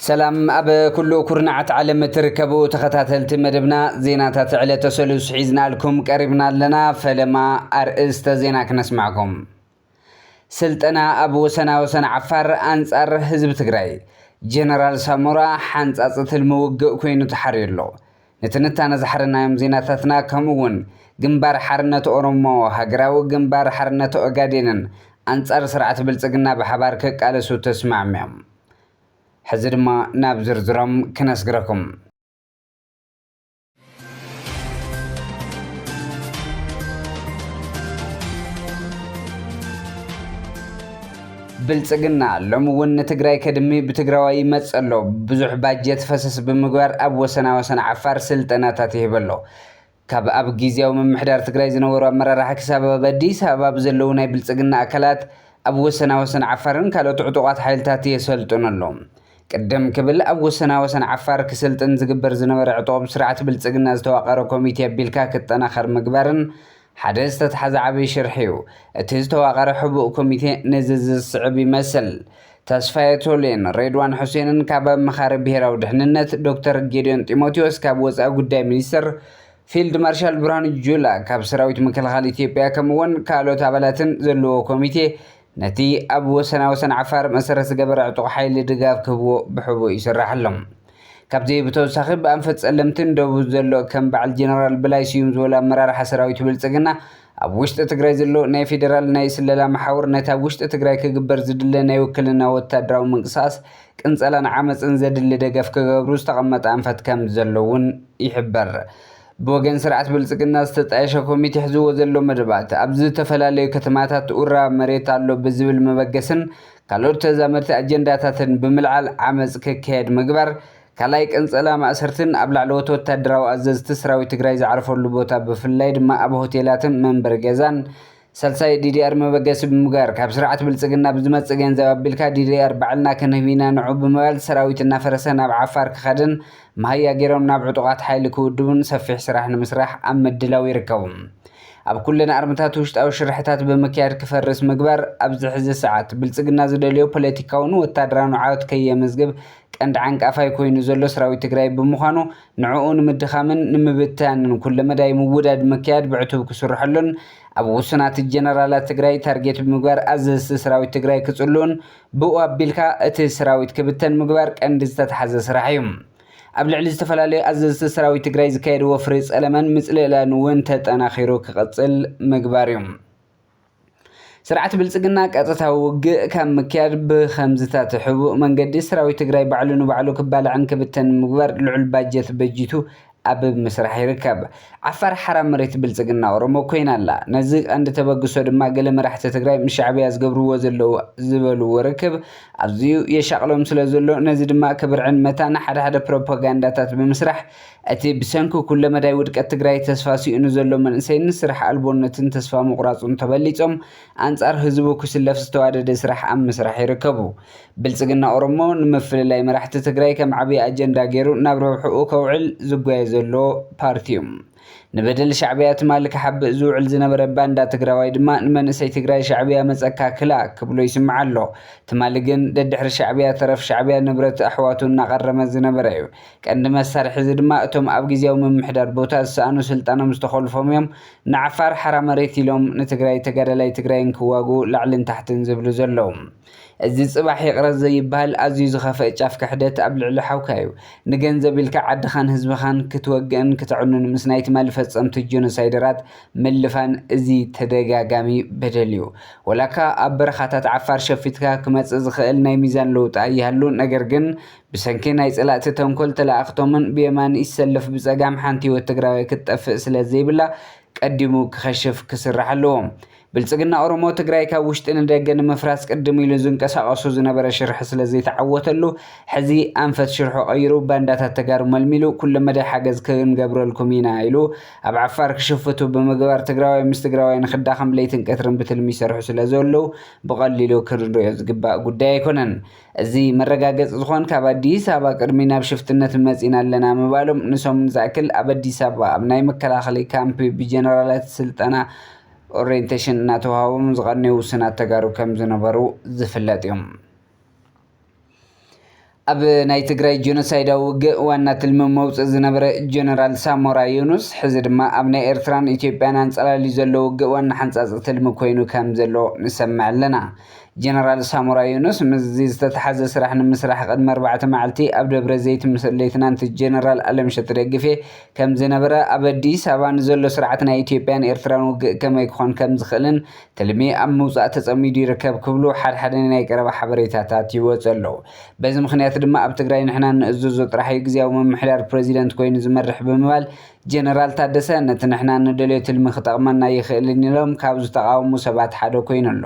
ሰላም ኣብ ኩሉ ኩርናዓት ዓለም እትርከቡ ተኸታተልቲ መደብና ዜናታት ዕለተ ሰሉስ ሒዝናልኩም ቀሪብና ኣለና። ፈለማ ኣርእስተ ዜና ክነስማዕኩም። ስልጠና ኣብ ወሰና ወሰን ዓፋር ኣንጻር ህዝቢ ትግራይ ጀነራል ሳሞራ ሓንጻጽ ትልሚ ውግእ ኮይኑ ተሓርዩ ኣሎ። ንትንታነ ዝሓረናዮም ዜናታትና ከምኡ እውን ግንባር ሓርነት ኦሮሞ፣ ሃገራዊ ግንባር ሓርነት ኦጋዴንን ኣንጻር ስርዓት ብልጽግና ብሓባር ክቃለሱ ተስማዕሚዖም። ሕዚ ድማ ናብ ዝርዝሮም ክነስግረኩም። ብልፅግና ሎሚ እውን ንትግራይ ከድሚ ብትግራዋይ ይመፅእ ኣሎ ብዙሕ ባጀት ፈሰስ ብምግባር ኣብ ወሰና ወሰን ዓፋር ስልጠናታት ይህብ ኣሎ ካብ ኣብ ጊዜያዊ ምምሕዳር ትግራይ ዝነበሩ ኣመራርሓ ክሳብ ኣብ ኣዲስ ኣበባ ብዘለዉ ናይ ብልፅግና ኣካላት ኣብ ወሰና ወሰን ዓፋርን ካልኦት ዕጡቋት ሓይልታት የሰልጥኑ ኣሎ ቅድም ክብል ኣብ ወሰና ወሰን ዓፋር ክስልጥን ዝግበር ዝነበረ ዕጡቕ ብስርዓት ብልፅግና ዝተዋቐረ ኮሚቴ ኣቢልካ ክጠናኸር ምግባርን ሓደ ዝተትሓዘ ዓብይ ሽርሒ ዩ። እቲ ዝተዋቐረ ሕቡእ ኮሚቴ ነዚ እዚ ዝስዕብ ይመስል። ተስፋየ ቶሌን ሬድዋን ሑሴንን ካብ ኣማኻሪ ብሄራዊ ድሕንነት፣ ዶክተር ጌዲዮን ጢሞቴዎስ ካብ ወፃኢ ጉዳይ ሚኒስቴር፣ ፊልድ ማርሻል ብርሃኑ ጁላ ካብ ሰራዊት ምክልኻል ኢትዮጵያ ከምኡ ውን ካልኦት ኣባላትን ዘለዎ ኮሚቴ ነቲ ኣብ ወሰና ወሰን ዓፋር መሰረት ዝገበረ ዕጡቕ ሓይሊ ድጋፍ ክህብዎ ብሕቡእ ይስራሕ ኣሎ። ካብዚ ብተወሳኺ ብኣንፈት ጸለምትን ደቡብን ዘሎ ከም በዓል ጀነራል በላይ ስዩም ዝበሉ ኣመራርሓ ሰራዊት ብልጽግና ኣብ ውሽጢ ትግራይ ዘሎ ናይ ፌደራል ናይ ስለላ መሓውር ነቲ ኣብ ውሽጢ ትግራይ ክግበር ዝድለ ናይ ውክልና ወታደራዊ ምንቅስቓስ ቅንጸላን ዓመጽን ዘድሊ ደገፍ ክገብሩ ዝተቐመጠ ኣንፈት ከም ዘሎ እውን ይሕበር። ብወገን ስርዓት ብልፅግና ዝተጣየሸ ኮሚቴ ሕዝዎ ዘሎ መደባት ኣብ ዝተፈላለዩ ከተማታት ኡራብ መሬት ኣሎ ብዝብል መበገስን ካልኦት ተዛመድቲ ኣጀንዳታትን ብምልዓል ዓመፅ ክካየድ ምግባር ካልኣይ ቅንፀላ ማእሰርትን ኣብ ላዕለዎት ወታደራዊ ኣዘዝቲ ሰራዊት ትግራይ ዝዓርፈሉ ቦታ ብፍላይ ድማ ኣብ ሆቴላትን መንበሪ ገዛን ሳልሳይ ዲዲኣር መበገሲ ብምግባር ካብ ስርዓት ብልፅግና ብዝመፅእ ገንዘብ ኣቢልካ ዲዲኣር ባዕልና ክንህብ ኢና ንዑ ብምባል ሰራዊት እናፈረሰ ናብ ዓፋር ክኸድን መሃያ ገይሮም ናብ ዕጡቓት ሓይሊ ክውድቡን ሰፊሕ ስራሕ ንምስራሕ ኣብ ምድላው ይርከቡ። ኣብ ኩለን ኣርምታት ውሽጣዊ ሽርሕታት ብምክያድ ክፈርስ ምግባር ኣብዚ ሕዚ ሰዓት ብልፅግና ዝደልዮ ፖለቲካውን ወታደራውን ዓወት ከየመዝግብ ቀንዲ ዓንቃፋይ ኮይኑ ዘሎ ሰራዊት ትግራይ ብምዃኑ ንዕኡ ንምድኻምን ንምብታንን ኩለመዳይ ምውዳድ ምክያድ ብዕቱብ ክስርሐሉን ኣብ ውሱናት ጀነራላት ትግራይ ታርጌት ብምግባር ኣዘዝቲ ሰራዊት ትግራይ ክፅልኡን ብኡ ኣቢልካ እቲ ሰራዊት ክብተን ምግባር ቀንዲ ዝተትሓዘ ስራሕ እዩ። ኣብ ልዕሊ ዝተፈላለዩ ኣዘዝቲ ሰራዊት ትግራይ ዝካየድ ወፍሪ ፀለመን ምፅልእላን እውን ተጠናኺሩ ክቕፅል ምግባር እዩ። ስርዓት ብልፅግና ቀጥታዊ ውግእ ካብ ምክያድ ብኸምዚታት ሕቡእ መንገዲ ሰራዊት ትግራይ ባዕሉ ንባዕሉ ክባላዕን ክብተንን ንምግባር ልዑል ባጀት በጂቱ ኣብ ምስራሕ ይርከብ። ዓፋር ሓራ መሬት ብልፅግና ኦሮሞ ኮይና ኣላ። ነዚ ቀንዲ ተበግሶ ድማ ገለ መራሕቲ ትግራይ ምስ ሻዕብያ ዝገብርዎ ዘለዉ ዝበልዎ ርክብ ኣዝዩ የሻቕሎም ስለዘሎ ነዚ ድማ ክብርዕን መታን ሓደ ሓደ ፕሮፓጋንዳታት ብምስራሕ እቲ ብሰንኪ ኩለመዳይ ውድቀት ትግራይ ተስፋ ሲእኑ ዘሎ መንእሰይን ስራሕ ኣልቦነትን ተስፋ ምቑራፁን ተበሊፆም ኣንፃር ህዝቡ ክስለፍ ዝተዋደደ ስራሕ ኣብ ምስራሕ ይርከቡ። ብልፅግና ኦሮሞ ንምፍልላይ መራሕቲ ትግራይ ከም ዓብዪ ኣጀንዳ ገይሩ ናብ ረብሕኡ ከውዕል ዝጓየ ዘሎ ፓርቲ ዩ። ንበደል ሻዕብያ ትማሊ ክሓብእ ዝውዕል ዝነበረ ባንዳ ትግራዋይ ድማ ንመንእሰይ ትግራይ ሻዕብያ መፀካ ክላ ክብሎ ይስማዕ ኣሎ። ትማሊ ግን ደድሕሪ ሻዕብያ ተረፍ ሻዕብያ ንብረት ኣሕዋቱ እናቐረመ ዝነበረ ዩ። ቀንዲ መሳርሒ እዚ ድማ እቶም ኣብ ግዝያዊ ምምሕዳር ቦታ ዝሰኣኑ ስልጣኖም ዝተኾልፎም እዮም ንዓፋር ሓራ መሬት ኢሎም ንትግራይ ተጋዳላይ ትግራይን ክዋግኡ ላዕልን ታሕትን ዝብሉ ዘለዉ እዚ ፅባሕ ይቅረ ዘይብሃል ኣዝዩ ዝኸፈእ ጫፍ ክሕደት ኣብ ልዕሊ ሓውካ እዩ ንገንዘብ ኢልካ ዓድኻን ህዝብኻን ክትወግእን ክተዕኑን ምስ ናይ ትማሊ ፈፀምቲ ጆኖሳይደራት ምልፋን እዚ ተደጋጋሚ በደል እዩ ወላካ ኣብ በረኻታት ዓፋር ሸፊትካ ክመፅእ ዝኽእል ናይ ሚዛን ለውጢ ኣይሃሉ ነገር ግን ብሰንኪ ናይ ፀላእቲ ተንኮል ተለኣእኽቶምን ብየማን ይሰለፍ ብፀጋም ሓንቲ ህይወት ትግራዋይ ክትጠፍእ ስለዘይብላ ቀዲሙ ክኸሽፍ ክስራሕ ኣለዎ። ብልፅግና ኦሮሞ ትግራይ ካብ ውሽጢ ንደገ ንምፍራስ ቅድም ኢሉ ዝንቀሳቐሱ ዝነበረ ሽርሒ ስለዘይተዓወተሉ ሕዚ ኣንፈት ሽርሑ ቀይሩ ባንዳታት ተጋሩ መልሚሉ ኩለመዳይ ሓገዝ ክንገብረልኩም ኢና ኢሉ ኣብ ዓፋር ክሽፍቱ ብምግባር ትግራዋይ ምስ ትግራዋይ ንክዳኸም ለይትን ቀትርን ብትልሚ ይሰርሑ ስለዘለው ብቐሊሉ ክንሪኦ ዝግባእ ጉዳይ ኣይኮነን። እዚ መረጋገፂ ዝኾን ካብ ኣዲስ ኣበባ ቅድሚ ናብ ሽፍትነት መፂና ኣለና ምባሎም ንሰሙን ዝኣክል ኣብ ኣዲስ ኣበባ ኣብ ናይ መከላኸሊ ካምፒ ብጀነራላት ስልጠና ኦሬንቴሽን እናተውሃቦም ዝቐነዩ ውሱናት ተጋሩ ከም ዝነበሩ ዝፍለጥ እዩ። ኣብ ናይ ትግራይ ጀኖሳይዳዊ ውግእ ዋና ትልሚ መውፅእ ዝነበረ ጀነራል ሳሞራ ዮኑስ ሕዚ ድማ ኣብ ናይ ኤርትራን ኢትዮጵያን ኣንፀላልዩ ዘሎ ውግእ ዋና ሓንፃፂ ትልሚ ኮይኑ ከም ዘሎ ንሰምዕ ኣለና። ጀነራል ሳሞራ ዮኑስ ምስዚ ዝተተሓዘ ስራሕ ንምስራሕ ቅድሚ ኣርባዕተ መዓልቲ ኣብ ደብረዘይት ምስ ሌትናንት ጀነራል ኣለምሸት ደግፌ ከምዝነበረ ኣብ ኣዲስ ኣበባ ንዘሎ ስርዓት ናይ ኢትዮጵያን ኤርትራን ውግእ ከመይ ክኾን ከምዝኽእልን ትልሚ ኣብ ምውፃእ ተፀሚዱ ይርከብ ክብሉ ሓድሓደ ናይ ቀረባ ሓበሬታታት ይወፁ ኣለው። በዚ ምኽንያት ድማ ኣብ ትግራይ ንሕና እንእዘዞ ጥራሕ እዩ ግዝያዊ ምምሕዳር ፕረዚደንት ኮይኑ ዝመርሕ ብምባል ጀነራል ታደሰ ነቲ ንሕና ንደልዮ ትልሚ ክጠቕመና ኣይኽእልን ኢሎም ካብ ዝተቓወሙ ሰባት ሓደ ኮይኑ ኣሎ።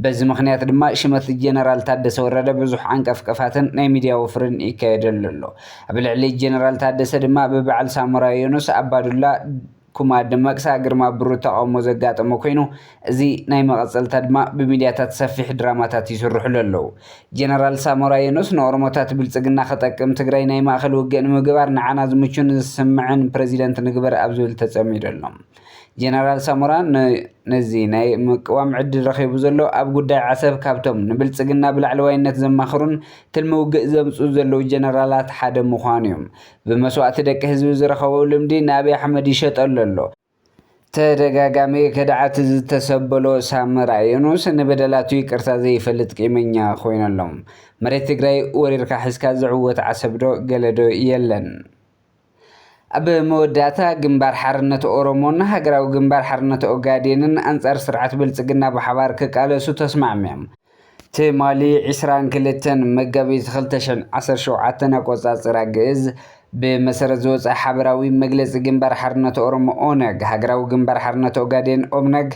በዚ ምኽንያት ድማ ሽመት ጀነራል ታደሰ ወረደ ብዙሕ ዓንቀፍቀፋትን ናይ ሚድያ ወፍርን ይካየደሉ ኣሎ። ኣብ ልዕሊ ጀነራል ታደሰ ድማ ብበዓል ሳሞራ የኑስ ኣባዱላ፣ ኩማ ደመቅሳ፣ ግርማ ብሩ ተቓውሞ ዘጋጠሞ ኮይኑ እዚ ናይ መቐጸልታ ድማ ብሚድያታት ሰፊሕ ድራማታት ይስርሑሉ ኣለው። ጀነራል ሳሞራ የኑስ ንኦሮሞታት ብልጽግና ክጠቅም ትግራይ ናይ ማእኸል ውግእ ንምግባር ንዓና ዝምቹን ዝስምዕን ፕረዚደንት ንግበር ኣብ ዝብል ተጸሚዱ ኣሎ። ጀነራል ሳሞራ ን ነዚ ናይ ምቅዋም ዕድል ረኺቡ ዘሎ ኣብ ጉዳይ ዓሰብ ካብቶም ንብልጽግና ብላዕለዋይነት ዘማኽሩን ትልሚ ውግእ ዘምጽኡ ዘለው ጀነራላት ሓደ ምዃኑ'ዩ። ብመስዋእቲ ደቂ ህዝቢ ዝረኸቦ ልምዲ ንኣብይ ኣሕመድ ይሸጠሉ ኣሎ። ተደጋጋሚ ከድዓት ዝተሰበሎ ሳመራ የኑስ ንበደላቱ ይቅርታ ዘይፈልጥ ቂመኛ ኮይኑ ኣሎ። መሬት ትግራይ ወሪርካ ሒዝካ ዝዕወት ዓሰብ ዶ ገለ ዶ የለን። ኣብ መወዳእታ ግንባር ሓርነት ኦሮሞን ሃገራዊ ግንባር ሓርነት ኦጋዴንን ኣንጻር ስርዓት ብልጽግና ብሓባር ክቃለሱ ተስማዕሚዮም። ትማሊ ዕስራን ክልተን መጋቢት ክልተ ሽሕን ዓሰርተ ሸውዓተን ኣቆጻጽራ ግእዝ ብመሰረት ዝወጸ ሓበራዊ መግለጺ ግንባር ሓርነት ኦሮሞ ኦነግ፣ ሃገራዊ ግንባር ሓርነት ኦጋዴን ኦብነግ፣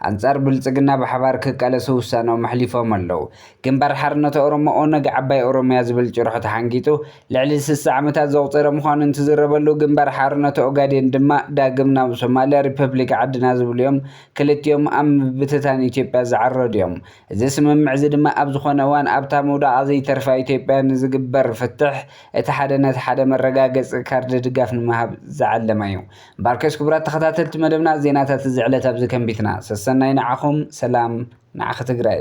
ኣንጻር ብልጽግና ብሓባር ክቃለሱ ውሳነኦም ኣሕሊፎም ኣለው። ግንባር ሓርነት ኦሮሞ ኦነግ ዓባይ ኦሮምያ ዝብል ጭርሖ ተሓንጊጡ ልዕሊ ስሳ ዓመታት ዘቑጸረ ምዃኑ እንትዝረበሉ፣ ግንባር ሓርነት ኦጋዴን ድማ ዳግም ናብ ሶማልያ ሪፐብሊክ ዓድና ዝብሉ'ዮም ክልቲኦም ኣብ ምብትታን ኢትዮጵያ ዝዓረዱ'ዮም። እዚ ስምምዕ'ዚ ድማ ኣብ ዝኾነ እዋን ኣብታ ምውዳቓ ዘይተርፋ ኢትዮጵያ ንዝግበር ፍትሕ እቲ ሓደ ነቲ ሓደ መረጋገጺ ካርድ ድጋፍ ንምሃብ ዝዓለመ'ዩ። ባርከስ ክቡራት ተኸታተልቲ መደብና ዜናታት እዚ ዕለት ኣብዚ ከንቢትና። ሰሰናዩ ንዓኹም ሰላም ንዓኺ ትግራይ።